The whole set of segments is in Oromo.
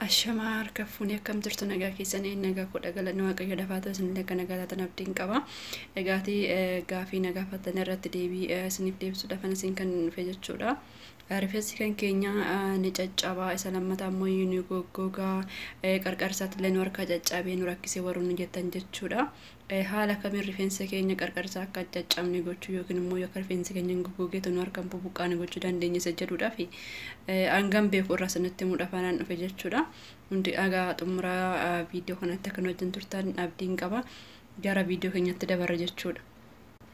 Ashamaa harka fuunee akkam jirtu nagaa keessanii nagaa kudha galanni waaqayyo dafaa ta'u isin akka nagaa taatan abdiin qaba. Egaati gaafii nagaa fattan irratti deebii isiniif deebisuu dafan isin kan dhufe jechuudha. Rifeensi kan keenya ni caccabaa isa lammataa immoo ni goggogaa qarqarsaatti illee nu harkaa caccabee nu rakkisee warroonni jettan jechuudha. Haala kamiin rifeensa keenya qarqara isaa akka hin caccabne gochuu yookiin immoo yoo akka rifeensi keenya hin goggogeetu nu harka hin bubuqqaane gochuu dandeenya isa jedhuudhaaf hangam beeku irraa isinitti himuudhaaf anaan dhufe jechuudha. Hundi dhagaa xumuraa viidiyoo kanatti akka nu wajjin turtan abdiin qaba. Gara viidiyoo keenyatti dabarra jechuudha.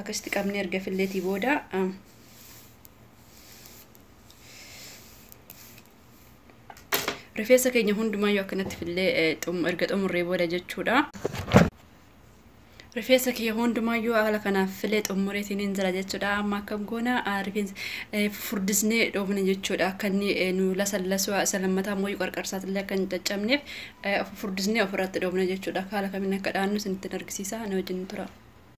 akkasitti qabnee erga filleetii booda rifeensa keenya hundumayyuu akkanatti fillee erga xumurree booda jechuudha. Rifeensa kiyya hundumayyuu haala kanaaf filee xumureetiin hin jira jechuudha. Amma akkam goona rifeensa furdisnee dhoofne jechuudha. Akka inni nu lasallasuu isa lammataa immoo qarqarsaatillee akka hin caccabneef furdisnee ofirratti dhoofne jechuudha. Haala kamiin akka dhaannu isinitti argisiisa na wajjin tura.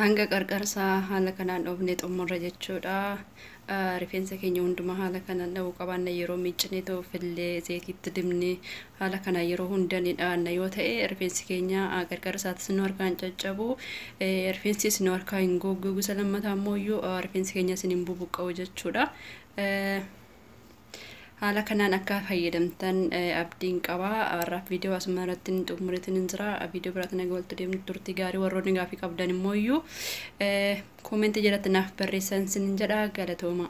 hanga qarqarsaa haala kanaan dhoofne xumurra jechuudha. Rifeensa keenya hundumaa haala kanaan dha'uu qabaanna yeroo miiccinee toofillee zeetiitti dibne haala kanaa yeroo hunda ni dhaanna yoo ta'e rifeensi keenya qarqarsaatis nu harkaa hin caccabu rifeensis nu harkaa hin gogguu gusa lammataa immoo iyyuu rifeensi keenyas hin bubuqqa'u jechuudha. Haala kanaan akka fayyadamtan abdiin qaba. Har'aaf viidiyoo asuma irratti hin xumuritin hin jira. Viidiyoo biraatti naga waltu deemnu turtii gaarii warroonni gaafii qabdan immoo iyyuu koomentii jalatti naaf barreessan sin jedha galatooma.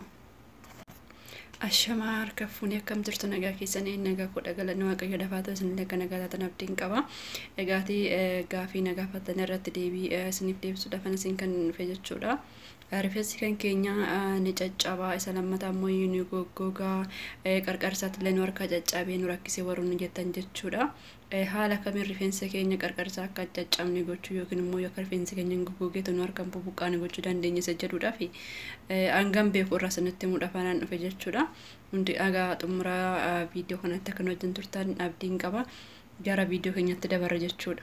Ashamaa harka fuunee akkam jirtu nagaa keessanii nagaa kudha galanni waaqayyo lafaa ta'u isin akka nagaa taatan abdiin qaba. Egaati gaafii nagaa fattanii irratti deebii isiniif deebisuudhaaf isin kan dhufe jechuudha. Rifensi kan keenya ni caccaba isa lammata ammoo ni goggoga qarqarsaattillee nu harka caccabee nu rakkise warroonni jettan jechuudha. Haala kamiin rifeensa keenya qarqarsaa akka hin caccabne gochuu yookiin immoo yoo akka rifeensi keenya hin goggogeetu nu harka hin bubuqqaane gochuu dandeenya isa jedhuudhaaf hangam beeku irraa isinitti himuudhaaf anaan dhufe jechuudha. Hundi dhagaa xumuraa viidiyoo kanatti akka nu wajjin turtan abdiin qaba. Gara viidiyoo keenyatti dabarra jechuudha.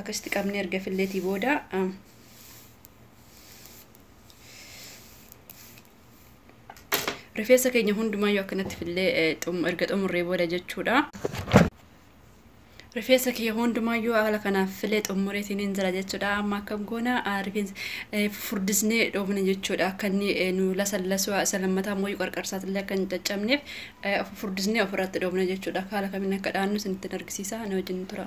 akkasitti qabnee erga filleetii booda rifeensa keenya hundumayyuu akkanatti fillee erga xumurree booda jechuudha. Rifeensa kiyya hundumayyuu haala kanaaf filee xumureetiin hin jira jechuudha. Amma akkam goona rifeensa furdisnee dhoofne jechuudha. Akka inni nu lasallasuu isa lammataa immoo qarqarsaatillee akka hin caccabneef furdisnee ofirratti dhoofne jechuudha. Haala kamiin akka dhaannu isinitti argisiisa na wajjin tura.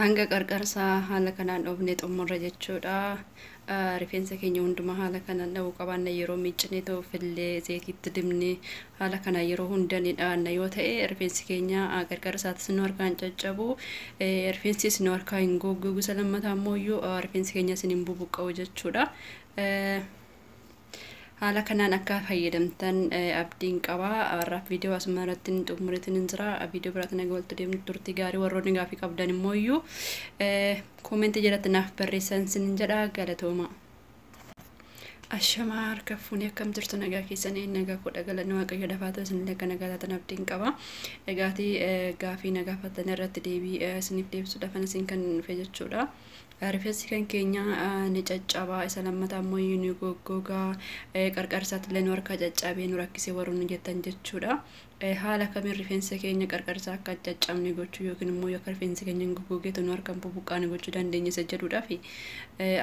hanga qarqarsaa haala kanaan dhoofne xumurra jechuudha. Rifeensa keenya hundumaa haala kanaan dha'uu qabaanna yeroo miiccinee ta'u fillee zeetiitti dibne haala kanaa yeroo hunda ni dhaanna yoo ta'e rifeensi keenya qarqarsaatis nu harkaa hin caccabu rifeensis nu harkaa hin goggogu isa lammataa immoo iyyuu rifeensi keenyas hin bubuqqa'u jechuudha. Haala kanaan akka fayyadamtan abdiin qaba. Har'aaf viidiyoo asuma irratti hin xumuritin hin jira. Viidiyoo biraatiin naga waltu deemnu turtii gaarii warroonni gaafii qabdan immoo iyyuu koomentii jalatti naaf barreessan sin jedha galatooma. Ashamaa harka fuunee akkam jirtu nagaa keessanii nagaa kudha galanni waaqayyo lafaa ta'u isin akka nagaa taatan abdiin qaba. Egaati gaafii nagaa fattan irratti deebii isiniif deebisuudhaaf isin kan dhufe jechuudha. Rifessi kan keenya ni caccaba isa lammata ammoo ni goggoga qarqarsaattillee nu harkaa caccabee nu rakkise warroonni jettan jechuudha. Haala kamiin rifeensa keenya qarqarsaa akka hin caccabne gochuu yookiin immoo yoo akka rifeensi keenya hin goggogeetu nu harka hin bubuqqaane gochuu dandeenya isa jedhuudhaaf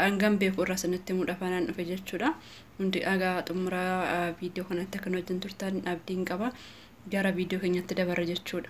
hangam beeku irraa isinitti himuu dhafaanaan dhufe jechuudha. Hundi dhagaa xumura viidiyoo kanatti akka nu wajjin turtan abdiin qaba. Gara viidiyoo keenyatti dabarra jechuudha.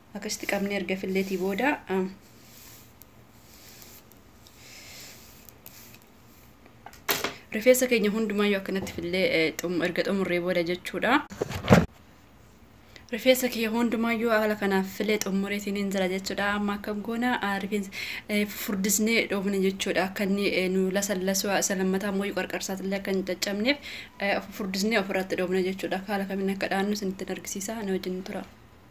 akkasitti qabnee erga filleetii booda rifeensa keenya hundumaayyuu akkanatti fillee erga xumurree booda jechuudha. Rifeensa kiyya hundumaayyuu haala kanaaf filee xumureetiin hin jira jechuudha. Amma akkam goona rifeensa furdisnee dhoofne jechuudha. Akka inni nu lasallasuu isa lammataa mooyii qarqarsaatillee akka hin caccabneef furdisnee ofirratti dhoofne jechuudha. Haala kamiin akka dhaannu isinitti argisiisa na wajjin tura.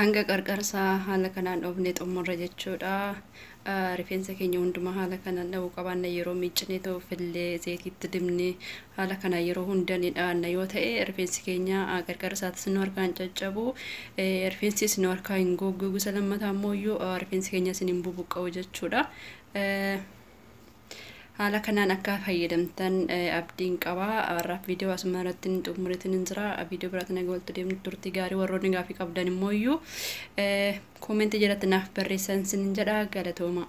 Hanga qarqarsaa haala kanaan dhoofnee xumurra jechuudha. Rifeensa keenya hundumaa haala kanaan dhahuu qabaanna yeroo miiccinee ta'u fillee zayitiitti dibnee haala kanaan yeroo hunda ni dhaanna yoo ta'e rifeensi keenya qarqarsaatis nu harkaa hin caccabu rifeensis nu harkaa hin goggoogu isa lammataa immoo iyyuu rifeensi keenyas hin bubuqqa'u jechuudha. Haala kanaan akka fayyadamtan abdiin qaba. Har'aaf viidiyoo asuma irratti hin xumuritin hin jira. Viidiyoo biraatiin naga waltu deemnu turtii gaarii warroonni gaafii qabdan immoo iyyuu koomentii jalatti naaf barreessan sin jedha galatoomaa.